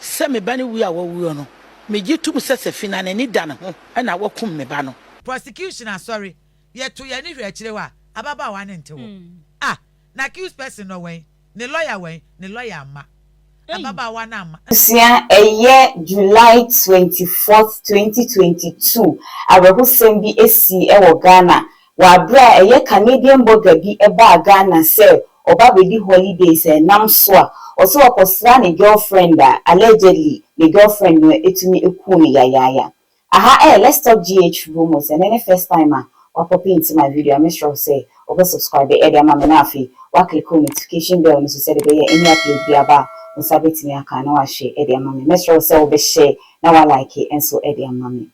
Sɛ me ba no wu a wawuo no, megye tom sɛ Safina n'ani da ne ho na wakum me ba no. Prosecution Asɔre yɛ to y'ani hwɛ akyire hɔ a ababaawa no nte hɔ a na accused person no wɛn? Ne lawyer wɛn? Ne lawyer amma ababaawa no amma. Abusua, Ɛyɛ July twenty fourth, twenty twenty two, awerɛhosɛm bi sii wɔ Ghana Wɔ aberɛ a ɛyɛ Canadian bɔga bi baa Ghana sɛ ɔba bɛdi holiday sɛ nam so a ɔsɛ ɔkɔsra ne girlfriend a allegedly ne girlfriend no atumi aku no yayaaya. Aha ɛyɛ Let's Talk GH room o, sɛ ɛnnɛ ne first time a wapɔpe into my video a mɛsrɛ wo sɛ wobɛ subscribe de ama me na afei woaclicke wo notification bell no so sɛdeɛ ɛbɛyɛ any upload bi aba a wo nsa bɛtumi aka na woahwɛ de ama me. Mɛsrɛ wo sɛ wobɛhyɛ na woalike nso de ama me.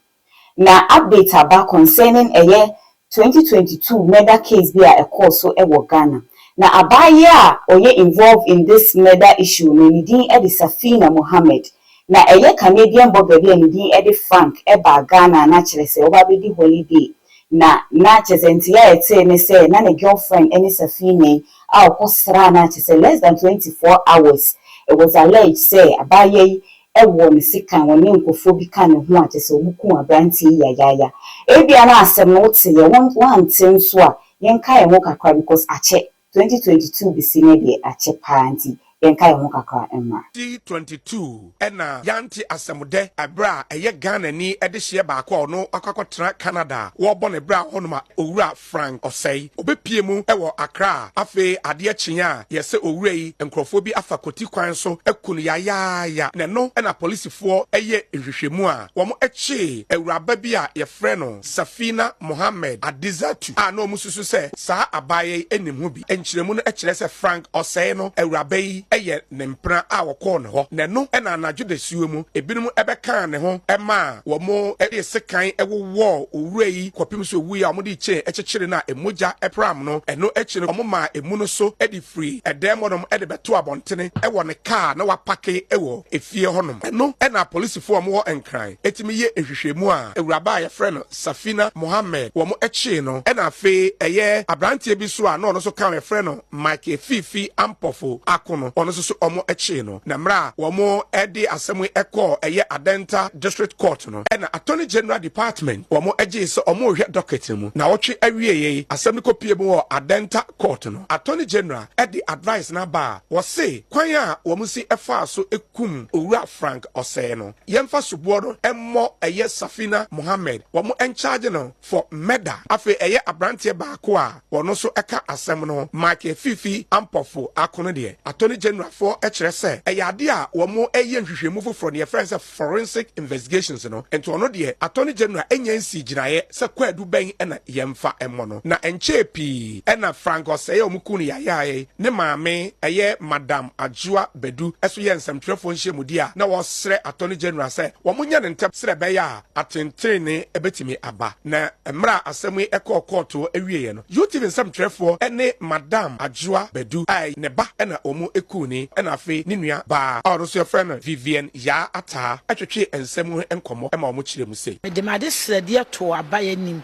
Na update aba concerning ɛyɛ twenty twenty two murder case bi a ɛkɔɔ so wɔ Ghana. Na abaayewa a ɔyɛ involved in this murder issue no ne din de Safina Mohammed. Na ɛyɛ Canadian bɔga bi a ne din de Frank baa Ghana a na kyerɛ sɛ ɔreba abɛdi holiday. Na na kyerɛ sɛ nte a ɛtee ne sɛ na ne girlfriend ne Safina yi a ɔkɔsraa no a kyerɛ sɛ less than twenty four hours it was alleged sɛ abaayewa yi ɛwɔ ne sekan wɔne nkurɔfoɔ bi ka ne ho a kyerɛ sɛ wɔkuu aberanteɛ yi yayaaya ebia na asɛm no wote yɛ wo woante nso a yɛnka yɛn ho kakra because akyɛ 2022 bɛsi ne deɛ akyɛ paa nti yɛnka yɛn ho kakra mmra. 2022 na yɛante asɛm dɛ ɛberɛ a ɛyɛ Ghanani dehyeɛ baako a ɔno wakɔ akɔtena Canada a wɔrebɔ ne bra hɔnom a owura Frank Osei, obepue mu wɔ Accra. Afei adeɛ kyeeɛ a, deɛ sɛ owura yi, nkorɔfoɔ bi afa Koti kwan so aku no yayaaya, na ɛno na polisifoɔ yɛ nhwehwɛmu a wɔn kyee awuraba bi a yɛfrɛ no Safina Mohammed Adizatu a na wɔn susu sɛ saa abaayaa yi nim ho Nkyerɛmu no kyerɛ sɛ Frank Ɔsɛe no awuraba yi yɛ ne mpena a wɔkɔɔ ne hɔ, na ɛno na anadwo dasuo mu ebinom bɛkaa ne ho maa wɔde sekan wowɔɔ owura yi kɔpem sɛ owuiɛ a wɔde kyen kyekyeree no a mogya pram no. Ɛno akyi no wɔmaa emu no so de firii ɛdan mu hɔnom de bɛtoo abɔntene wɔ ne kaa a na wɔapake wɔ efie hɔnom. Ɛno na apolisifoɔ a wɔwɔ Nkran tumi yɛ nhwehwɛmu a awuraba a wɔfrɛ no Safina Mohammed wɔn kyee no ɛna afei ɛyɛ abranteɛ bi nso a na ɔno nso ka ho yɛfrɛ no Michael Fifi Ampofo Ako no ɔno nso so wɔn kyee no na mmerɛ a wɔn de asɛm yi kɔɔ ɛyɛ Adenta District Court no ɛna Attorney General Department wɔn gyee sɛ wɔn rehwɛ docket no mu nawɔtwe awieɛ yi asɛm no kɔpue mu wɔ Adenta Court no Attorney General de advice no aba a wɔse kwan a wɔn si faa so kum Owura Frank Osei no Yɛnfa soboɔ no mmɔ ɛyɛ Safina Mohammed wɔn nkyagye no for murder afei ɛyɛ abranteɛ baako a ɔno nso ɛka asɛm no Michael Fifi Ampofo ako no deɛ Attorney General foɔ kyerɛ sɛ ɛyɛ adeɛ a wɔn reyɛ nhwehwɛmu foforɔ deɛ yɛfrɛ no sɛ forensic investigations no nti ɔno deɛ Attorney General nnya nsii gyinaeɛ sɛ kwaadu bɛn na yɛmfa mmɔ no. Na ɛnkyɛɛ pii na Frank Osei a wɔkuu no yayaayae ne maame ɛyɛ Madam Adjoa Badu nso yɛɛ nsɛmtwerɛfoɔ nhyiamudie a na wɔresrɛ Attorney General sɛ wɔnyɛ no ntɛm sɛdeɛ ɛbɛyɛ a atentenenee bɛtumi aba. Na mmerɛ a asɛm yi kɔɔ kɔɔto wieeɛ no, UTV nsɛmtwerɛfoɔ ne Madam Adjoa Badu a ɛyɛ ne ba na wɔkuu no ɛna afei ne nua baa a ɔno nso yɛfrɛ no Vivienne Yaa Ataa twetwee nsɛm ho nkɔmmɔ ma wɔn kyerɛɛ mu sɛ, se. Mede m'adesrɛdeɛ too aban anim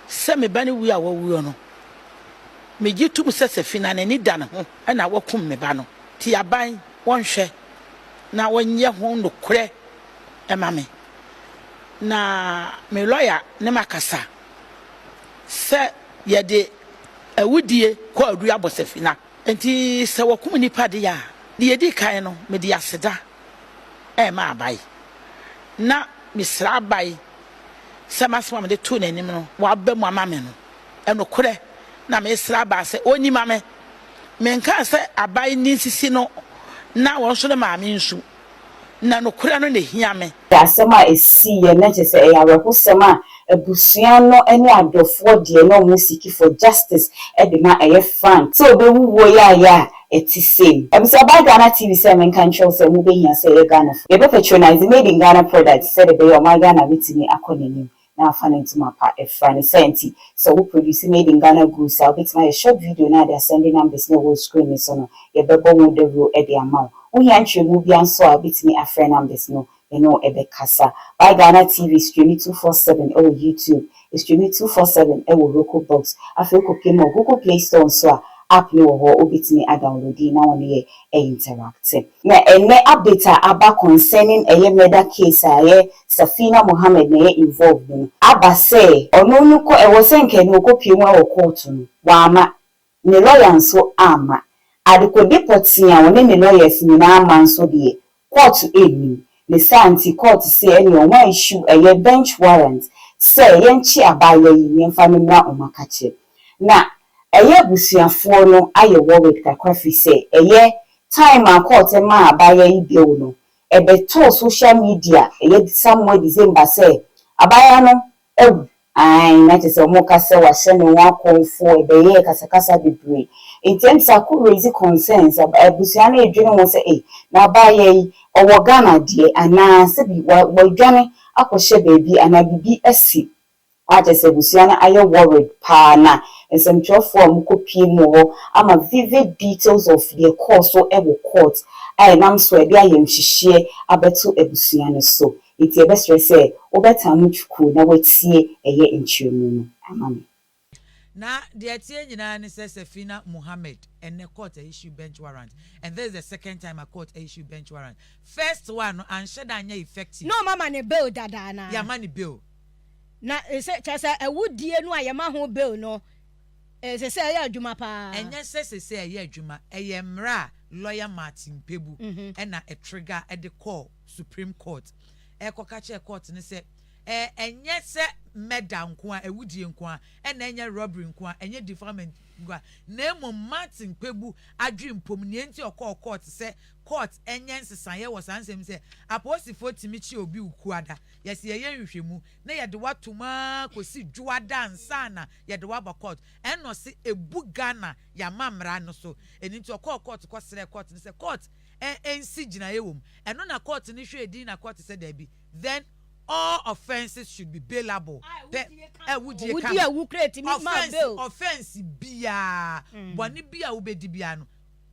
sɛ me ba no wuo a wawuo no, megye tom sɛ Safina n'ani da ne ho na wakum me ba no, nti aban wɔnhwɛ na wɔnyɛ ho nokorɛ ma me na me lɔya ne makasa sɛ yɛde awudie kwaadu abɔ Safina. Enti sɛ wɔkum nnipa de a, deɛ ɛdi kan no, mede aseda rema abae, na mesrɛ abae sɛ m'asɛm a mede too n'anim no, waba mu ama me no, nokorɛ na meresrɛ abae sɛ ɔnyi ma me. Menkaa sɛ abae nni nsisi no, na wɔn nso no maa me nsu. na nokorɛ no na ɛhia me. Ɛyɛ asɛm a ɛsiiɛ na kyerɛ sɛ ɛyɛ awerɛhosɛm a abusua no ne adɔfoɔ deɛ na wɔn siki for justice de ma ɛyɛ Frank sɛ ɔbɛwu wuo yaayɛ a ɛte sei. Abusua by Ghana TV sɛ me nka nkyerɛ wo sɛ mobɛhia sɛ yɛ Ghanafoɔ yɛbɛ patronise made in Ghana products sɛdeɛ ɛbɛyɛ a ɔman Ghana bɛtumi akɔ n'anim. na afa ne ntoma pa afira ne saa nti sɛ wo produce made in Ghana goods a wobɛtumi ayɛ short video na de asɛnde numbers no a ɛwɔ screen no so no yɛbɛbɔ ho dawuro de ama wo. Wohia nkyerɛmu biara nso a wobɛtumi afrɛ numbers no yɛne wo bɛkasa. Buy Ghana TV streami two four seven wɔ YouTube, streami two four seven wɔ Roku box afei wokɔ pie mu wɔ Google play store nso a app no wɔ hɔ wobɛtumi adownloadi na wo ne yɛ a interactive. Na ɛnɛ update a aba concerning ɛyɛ murder case a ɛyɛ Safina Mohammed na ɛyɛ involved no no, aba sɛ ɔno no kɔ ɛwɔ sɛ nka ɛnɛ ɔkɔpue mu ɛwɔ court no, wamma, ne lawyer nso amma. Adekode pɔtee a ɔne ne lawyers nyinaa ma nso deɛ, kɔɔto ɛnnim, ne saa nti kɔɔto se ɛneɛ wɔn a issue ɛyɛ bench warrant sɛ yɛnkye abaayewa yi na yɛmfa no mmra ɔmakakyɛ. Na ɛyɛ abusuafoɔ no ayɛ worried kakra firi sɛ ɛyɛ time a kɔɔto maa abaayewa yi bail no ɛbɛtɔɔ social media ɛyɛ somewhere December sɛ abaayewa no Awu. Aane, na kyerɛ sɛ wɔn reka sɛ wɔahyɛ ne ho akɔmfoɔ, ɛbɛyɛɛ kasakasa bebree. Nti ɛnde saa kɔ raise concerns, abusua no redwene ho sɛ ei, na abaayewa yi, ɔwɔ Ghana deɛ anaa sɛbi wadwane akɔhyɛ baabi anaa biribi asi a kyerɛ sɛ abusua no ayɛ worried paa na nsɛmtwerɛfoɔ a wɔkɔ pie mu wɔ hɔ ama vivid details of deɛ ɛkɔɔ so wɔ court a ɛnam so a ɛde ayamhyehyeɛ abɛto abusua no so. Enti yɛbɛsrɛ sɛ wobɛtan mo tukuu na woatie ɛyɛ nkyerɛmu no ama me. Na deɛ ɛteɛ nyinaa ne sɛ Safina Mohammed ɛnnɛ court a issue bench warrant and this is the second time a court a issue bench warrant. First one no anhyɛ da anyɛ effective. Na wɔama no bail dada anaa? Yɛama no bail. Na ɛsɛ kyerɛ sɛ awudie no a yɛma ho bail no ɛsɛ sɛ ɛyɛ adwuma paa? Ɛnyɛ sɛ ɛsɛ sɛ ɛyɛ adwuma, ɛyɛ mmara a lawyer Martin Pebu ɛna ɛtrigger ɛde kɔɔ. Supreme Court rekɔka kyerɛ court no sɛ ɛɛ ɛnyɛ sɛ murder nko ara, awudie nko ara, ɛna ɛnyɛ robbery nko ara, ɛnyɛ defilement nko ara, na mmom Martin Kpebu adwempom nea nti ɔkɔɔ court sɛ court nyɛ nsesaeɛ wɔ saa nsɛm yi sɛ apolisifoɔ tumi kye obi wo Kuada, yɛse yɛyɛ nhwehwɛmu na yɛde wo atom ara kɔsi Dwoada ansa na yɛde wo aba court, ɛna ɔse ɛbu Ghana yɛn amammra no so, ɛno nti ɔkɔɔ court kɔsrɛɛ court no sɛ court. ɛ ɛnsi gyinaeɛ wɔ mu, ɛno na kɔɔte no hwɛɛ din na kɔɔte sɛ daabi, then all offences should be bailable, pɛ a wudie ka Wodie a ho, wukura ɛtumi ma offence, bail. offence biara, bɔne bi a wobɛdi biara no,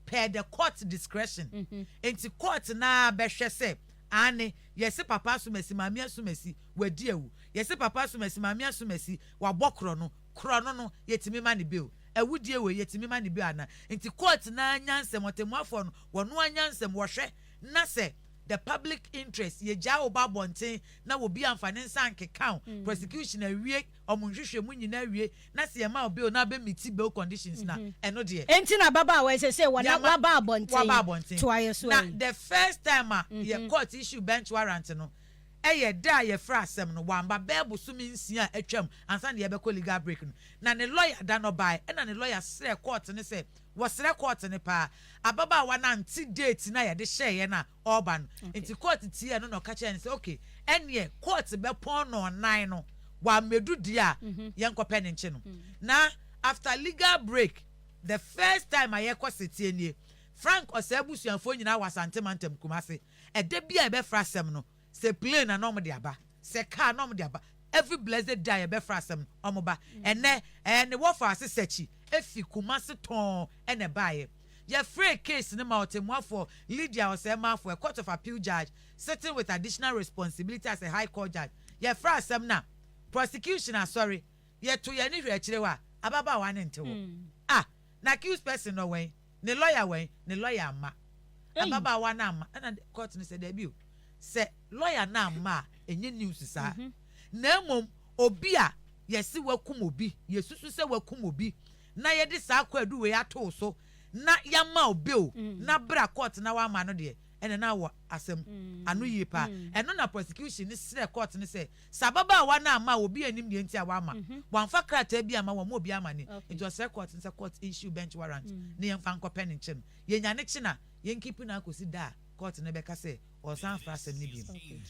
per the court discretion. Enti kɔɔte no ara bɛhwɛ sɛ, aane, yɛse Papa Asumasi, Maame Asumasi, wadi awu, yɛse Papa Asumasi, Maame Asumasi, wabɔ korɔ no, korɔ no no, yɛtumi ma no bail. Awudie wei yɛtumi ma no bi ana? Nti court no ara nyansam, ɔtɛmmuafoɔ no, wɔn ara nyansam, wɔhwɛ na sɛ the public interest, yɛgyaa wo ba abɔnten na obi amfa ne nsa ankeka wo, prosecution awie wɔn nhwehwɛmu nyinaa awie na sɛ yɛma wo bail na abɛ meeti bail conditions no a, ɛno deɛ. Nti na ababaawa yi sɛsɛɛ wɔ na waba abɔnten, toa yɛ so ayi. Na the first time a yɛ court issue bench warrant no, Ɛyɛ dɛ a yɛfrɛ asɛm no, wamba bɛyɛ bosome nsia a atwam ansa na yɛbɛkɔ legal break no. Na ne lɔya da no ɔbae, ɛna ne lɔya srɛɛ kɔɔte no sɛ, wɔsrɛ kɔɔte no paa, ababaawa no ante date no a yɛde hyɛeɛ no a ɔreba no. Enti kɔɔte tiee ɛno na ɔka kyerɛɛ no sɛ, ok, ɛnneɛ kɔɔte bɛpɔn nnɔnnan no, wammɛdu deɛ a yɛnkɔpɛ no nkye no. Na after legal break, the first time a yɛkɔ setie nie, Frank ɔsɛe abusuafoɔ nyinaa wɔ Asante Mantam, Kumasi. Ɛda biara yɛbɛfra asɛm no, sɛ plane na na wɔde aba, sɛ car na wɔde aba, every blessed day a yɛbɛfra asɛm no, wɔba. Ɛnnɛ, ɛɛ ne wɔfaa se Sakyi, efi Kumasi tɔɔn na ɛbaeɛ. Yɛfrɛɛ case no ma ɔtemmuafoɔ Lydia Osei-Marfo, a Court of Appeal Judge sitting with additional responsibility as a High Court Judge. Yɛfraa asɛm no a, prosecution asɔre, yɛto yɛn ani hwɛ akyire hɔ a, ababaawa no nte hɔ. Ah! Na accused person no, ɔwɛn? ne lɔya wɛn, ne lɔya amma. Ababaawa no amma. Ɛna kɔɔto no sɛ, Dabi o, sɛ lɔya no amma a, ɛnyɛ news saa. Mhm. Na mmom, obi a yɛse wakum obi, yɛsusu sɛ wakum obi, na yɛde saa kwaadu wei ato wo so, na yɛama wo bail, mm. na bra kɔɔto na wamma no deɛ, ɛna na wɔ asɛm mm. ano yie paa. Mm. Ɛno na prosecution no srɛ kɔɔto no sɛ, Sɛ ababaawa no amma a, obiara nnim deɛ nti a wamma. Wamfa krataa bi amma, wammɔ obiara amane. Nti ɔsrɛ kɔɔte no sɛ kɔɔte issue bench warrant na yɛmfa nkɔpɛ ne nkye no. Yɛnya ne kye no a, yɛnkiipi no akɔsi da a kɔɔte no bɛka sɛ ɔresan afra asɛm no bio.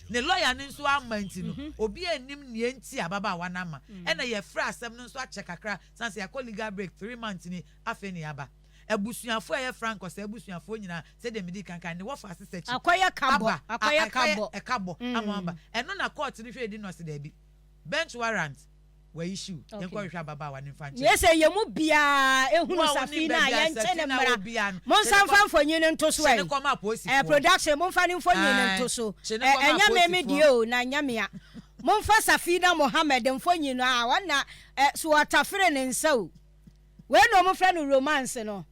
Ne lɔya no nso amma nti no, obiara nnim deɛ nti a ababaawa no amma. Ɛnna yɛfrɛ asɛm no nso akyɛ kakra, sane sɛ yɛakɔ legal break three months ni, afei na yɛaba. Abusuafo a ɛyɛ frank ɔsɛ abusuafoɔ nyinaa sɛdeɛ medii kan kae no, wɔfa asesa akyi Akɔyɛ ka bɔ, aba a akɔyɛ ka ɛkɔyɛ bɔ. ɛka bɔ ama Mm. wɔaba. Ɛno na kɔɔto no hwɛ di no ɔse daabi, bench warrant wɔ issue, Okay. yɛnkɔhwehwɛ ababaawa no mfa nkyerɛ. Niyese yɛn mu biara Mo ehunu a wonim Safi no a, baabi a yɛnkye Safi no na mmra. wɔ biara no, Monsan kye no mfa kɔ- mfonyin no nto so kye no ɛ. kɔma Ɛ, apolisifoɔ. production, momfa ne mfonyin no Ae, nto so. kye no Ɛ, kɔma ɛnyɛ me me apolisifoɔ. deɛ o, na ɛnyɛ mea. Momfa Safina Mohammed mfonyin no, aa, ɔna, ɛ, so ɔtafere ne nsa o. Wei na wɔn frɛ no romance no.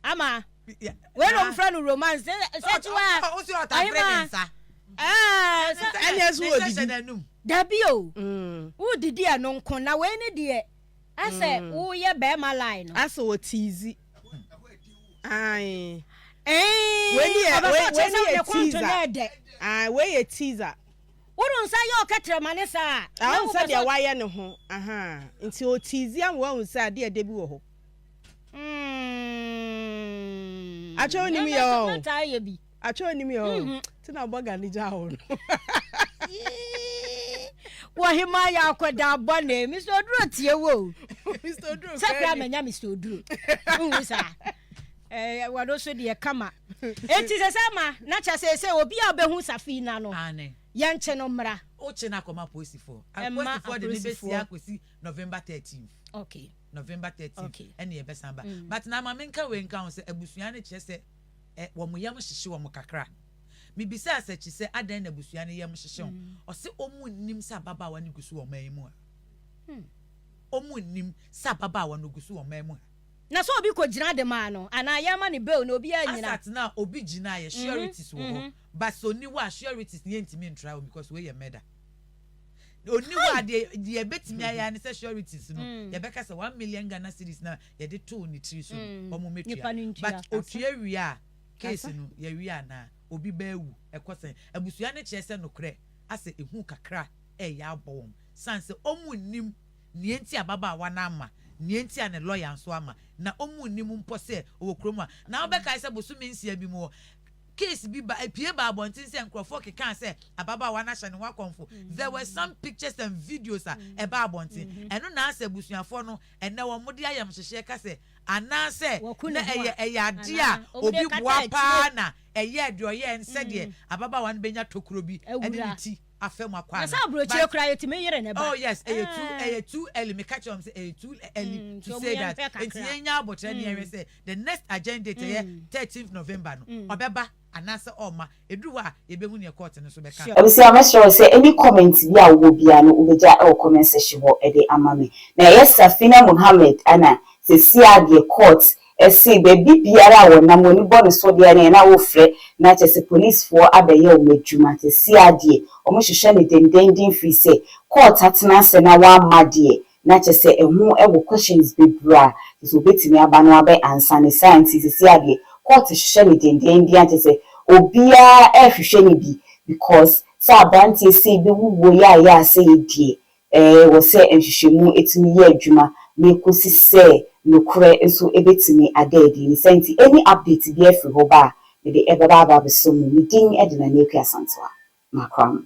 Ama. Wei na wɔn frɛ no romance. Sɛ ti wa. Ɔsi ɔta pere ne nsa. Ɛɛ. Ɛni ɛso wɔ didi. Dabi o. Wo didi ɛno nko na wei ni deɛ. Asɛ wo yɛ bɛrima line no. Asɛ wɔ tiizi. Ayi. Ɛɛ. Wei ni yɛ wei ni yɛ tiiza. Ayi wei yɛ tiiza. Wono nsa yɛ ɔkɛtrɛ ma ne saa a. Na wohu sɛdeɛ wayɛ ne ho ahaa. Nti ɔtiizi ama wahu sɛ adeɛ ɛdɛ bi wɔ hɔ. Umm. Atwɛ wonim yɛ ɔɔ. Mɛmɛ taa yɛ bi. Atwɛ wonim yɛ ɔɔ. Ti na ɔbɔ gane gyaa wo no. Wɔ hemaa yɛ akɔdaa bɔne. Mister Oduro tie wo o. Mister Oduro fɛɛ ni. Sɛ kura manya Mister Oduro. Wohu saa. Ɛɛ wɔno so deɛ kama. Enti sɛ sɛ ma na kyɛ sɛ sɛ obi a ɔbɛhu Safina no, yɛnkye no mmra. Wokye no akɔma apolisifoɔ. Apolisifoɔ de no bɛsie akɔsi November thirteenth. Okay. November thirteenth. Okay. Ɛne yɛbɛsan ba. Mm. But na ma menka wei nka ho sɛ abusua no kyerɛ sɛ ɛ wɔn yam hyehye wɔn kakra. Mebisaa Sakyi sɛ adɛn na abusua no yam hyehye ho. Mm. Ɔse wɔn nnim sɛ ababaawa no gu so wɔ ɔman yi mu ha. Hmm. Wɔn nnim sɛ ababaawa no gu so wɔ ɔman mu ha. Na sɛ obi kɔ gyina de maa no anaa yɛn ma no bail na obiara nnyina. Asat na obi gyina yɛ sureties wɔ hɔ but sɛ ɔni hɔ a sureties no yɛn ntumi ntry wɔn because wei yɛ murder ɔni hɔ a deɛ deɛ yɛbɛtumi ayɛ ara ne sɛ sureties no yɛbɛka sɛ one million Ghana cedis na yɛde too ne tiri so no wɔn mmɛ tua but ɔtua wie a case no yɛ wie anaa obi ba awu ɛkɔ sɛn abusua no kyerɛ sɛ nokorɛ asɛ ɛhu kakra ɛyɛ abɔ wɔn sane sɛ wɔn nnim nea enti a ababaawa no amma, nea enti a ne lɔya nso amma, na wɔn nnim mpo sɛ ɔwɔ kurom a. Na wobɛkae sɛ bosome nsia bi mu hɔ, case bi ba, epue baa abɔnten sɛ nkurɔfoɔ kekaa sɛ ababaawa no ahyɛ ne ho akɔmfo. There were some pictures and videos a ɛbaa abɔnten. Ɛno na asɛ abusuafoɔ no ɛnnɛ wɔde ayamhyehyeɛ ka sɛ anaasɛ na ɛyɛ ɛyɛ adeɛ a obi boa paa na ɛyɛɛ deɛ ɔyɛɛ no sɛdeɛ ababaawa no bɛnya tokuro bi ne ne ti. afɛ mu akɔ ana. na sɛ aburokyire koraa yɛtumi yere ne ba. oh yes ɛyɛ eh. too ɛyɛ too early meka kyerɛ wɔn sɛ ɛyɛ too early mm, to say that nti yɛn nya abotire ne yɛn hwɛ mm. sɛ the next agenda date ɛyɛ mm. thirteenth november no ɔbɛba anaasɛ ɔma ɛduru hɔ a yɛbɛhu neɛ court no so bɛka ɔbɛsi amɛsrɛ wo sɛ ɛni comment bi a wowɔ biara no wobɛgya ɛwɔ comment section hɔ ɛde ama me na ɛyɛ Safina Mohammed ana sɛsi a deɛ court Ɛse baabi biara a wɔnam wɔn ani bɔ no so deɛ neɛ na wofrɛ na kyerɛ sɛ polisfoɔ abɛyɛ wɔn adwuma, seesei ara deɛ wɔhwehwɛ no dendennden firi sɛ court atena ase na wɔamma deɛ na kyerɛ sɛ ɛho wɔ questions bebree a kyerɛ sɛ wɔbɛtumi aba no abɛ answer no saa nti seesei ara deɛ court hwehwɛ no dendennden a kyerɛ sɛ obiara rehwehwɛ no bi because sɛ aberanteɛ sei bɛwuwuo yaayaa sɛi deɛ Ɛwɔ sɛ nhwehwɛmu tumi yɛ adwuma na ɛkɔsi sɛ nokorɛ nso bɛtumi ada adi. Ne saa nti, any update biara firi hɔ ba a, mede ɛbɛba aba abɛsɔ mu. Me din de Nana Akua Asantewa. Makram.